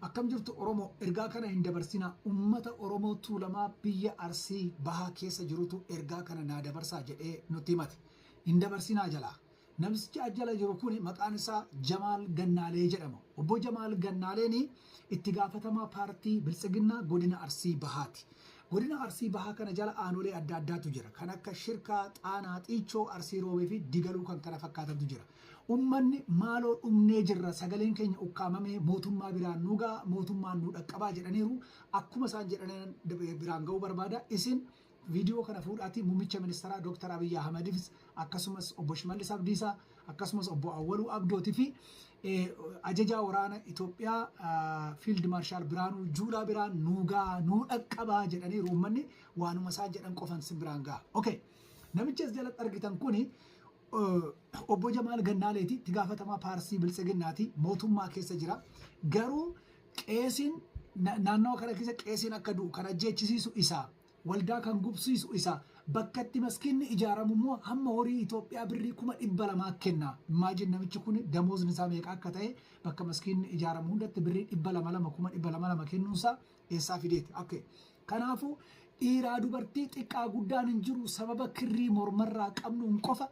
Akkam jirtu Oromoo ergaa kana hin dabarsinaa ummata Oromoo Tuulamaa biyya Arsii bahaa keessa jirutu ergaa kana naa dabarsaa jedhee nutti himate hin dabarsinaa jalaa namisichi as jala jiru kuni maqaan isaa Jamaal Gannaalee jedhama obbo Jamaal Gannaaleeni itti gaafatamaa paartii Biltsiginnaa godina Arsii bahaati godina Arsii bahaa kana jala aanolee adda addaatu jira kan akka Shirkaa Xaanaa Xiichoo Arsii Roobee fi Digaluu kan kana fakkaatantu jira Ummanni maaloo dhumnee jirra, sagaleen keenya ukkaamamee mootummaa biraan nu ga'a, mootummaan nu dhaqqabaa jedhaniiru. Akkuma isaan jedhanan biraan ga'uu barbaada. Isin viidiyoo kana fuudhaatii muummicha ministeeraa Dooktar Abiyyi Ahmadiifis akkasumas obbo Shimallis Abdiisaa akkasumas obbo Awwaluu Abdootii fi ajajaa waraana Itoophiyaa Fiild Maarshaal Biraanuu Juulaa biraan nuu ga'a, nuu dhaqqabaa jedhaniiru ummanni waanuma isaan jedhan qofan sin biraan ga'a. Okay. Namichi as jalatti argitan kuni Obbo Jamaal Gannaaleeti itti gaafatamaa paarsii biltsiginnaati mootummaa keessa jira. Garuu qeesiin naannawa kana keessa qeesiin akka du'u kan ajjeechisiisu isaa waldaa kan gubsiisu isaa bakkatti maskiinni ijaaramu immoo hamma horii Itoophiyaa birrii kuma dhibba lamaa kenna. Immaajin namichi kun damoozni isaa meeqa akka ta'e bakka maskiinni ijaaramu hundatti birrii dhibba lama lama kuma dhibba lama lama kennuunsaa eessaa fideeti akka kanaafuu dhiiraa dubartii xiqqaa guddaan hin jiru sababa kirrii mormarraa qabnuun qofa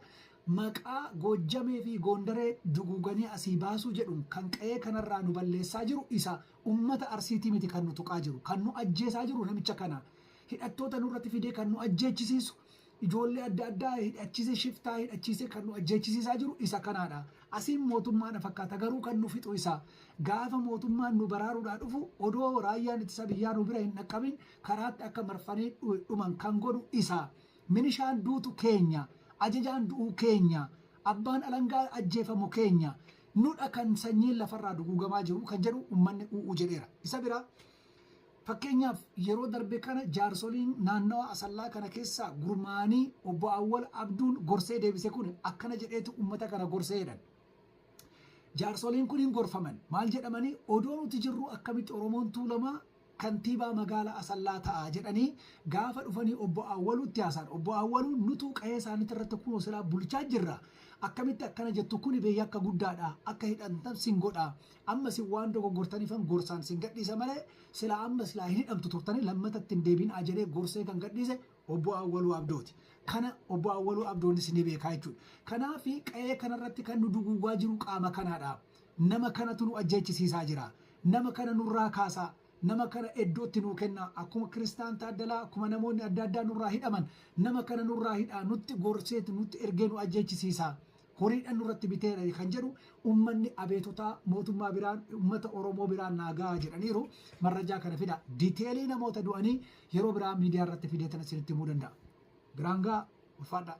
maqaa goojjamee fi goondaree duguuganii asii baasuu jedhuun kan qa'ee kanarraa nu balleessaa jiru isa ummata arsiitii miti kan nu tuqaa jiru kan nu ajjeesaa jiru namicha kana hidhattoota nurratti fidee kan nu ajjeechisiisu Ijoollee adda addaa hidhachiise shiftaa hidhachiise kan nu ajjeechisiisaa jiru isa kanaadha. Asiin mootummaadha fakkaata garuu kan nu fixu isa. Gaafa mootummaan nu baraaruudhaa dhufu odoo raayyaan ittisa biyyaa nu bira hin dhaqqabin karaatti akka marfanii dhuman kan godhu isa. Minishaan duutu keenya. Ajajaan du'uu keenya. Abbaan alangaa ajjeefamu keenya. Nudha kan sanyiin lafarraa duguugamaa jiru kan jedhu ummanni u'u jedheera. Isa biraa Fakkeenyaaf yeroo darbe kana jaarsoliin naannawa Asallaa kana keessaa gurmaa'anii Obbo Awwal Abduun gorsee deebise kun akkana jedheetu ummata kana gorse jedhan. Jaarsoliin kun hin gorfaman. Maal jedhamanii odoo nuti jirruu akkamitti Oromoon Tuulamaa kantiibaa magaala Asallaa ta'a jedhanii gaafa dhufanii Obbo Awwaluutti haasa'an. Obbo Awwaluun nutuu qahee isaaniitti irratti kunoo silaa bulchaa jirra akkamitti akkana jettu kuni bee yakka guddaadha akka hidhamtan sin godha. Amma isin waan dogoggortaniifan gorsaan isin gadhiisa malee silaa amma silaa hin hidhamtu turtanii lammata itti hin deebiinaa jedhee gorsee kan gadhiise Obbo Awwaluu Abdooti. Kana Obbo Awwaluu Abdoonis ni beekaa jechuudha. Kanaaf qa'ee kanarratti kan nu duguugaa jiru qaama kanaadha. Nama kanatu nu ajjeechisiisaa jira. Nama kana nurraa kaasaa. Nama kana iddootti nuu kennaa. Akkuma Kiristaan Taaddalaa, akkuma namoonni adda addaa nurraa hidhaman nama kana nurraa hidhaa. Nutti gorseeti nutti ergee nu ajjeechisiisaa. horiidhan nurratti biteera kan jedhu ummanni abeetutaa mootummaa biraan ummata Oromoo biraan naa gahaa jedhaniiru marrajaa kana fida diteelii namoota du'anii yeroo biraa miidiyaa irratti fideetan isinitti himuu danda'a. Biraan gahaa ulfaadhaa.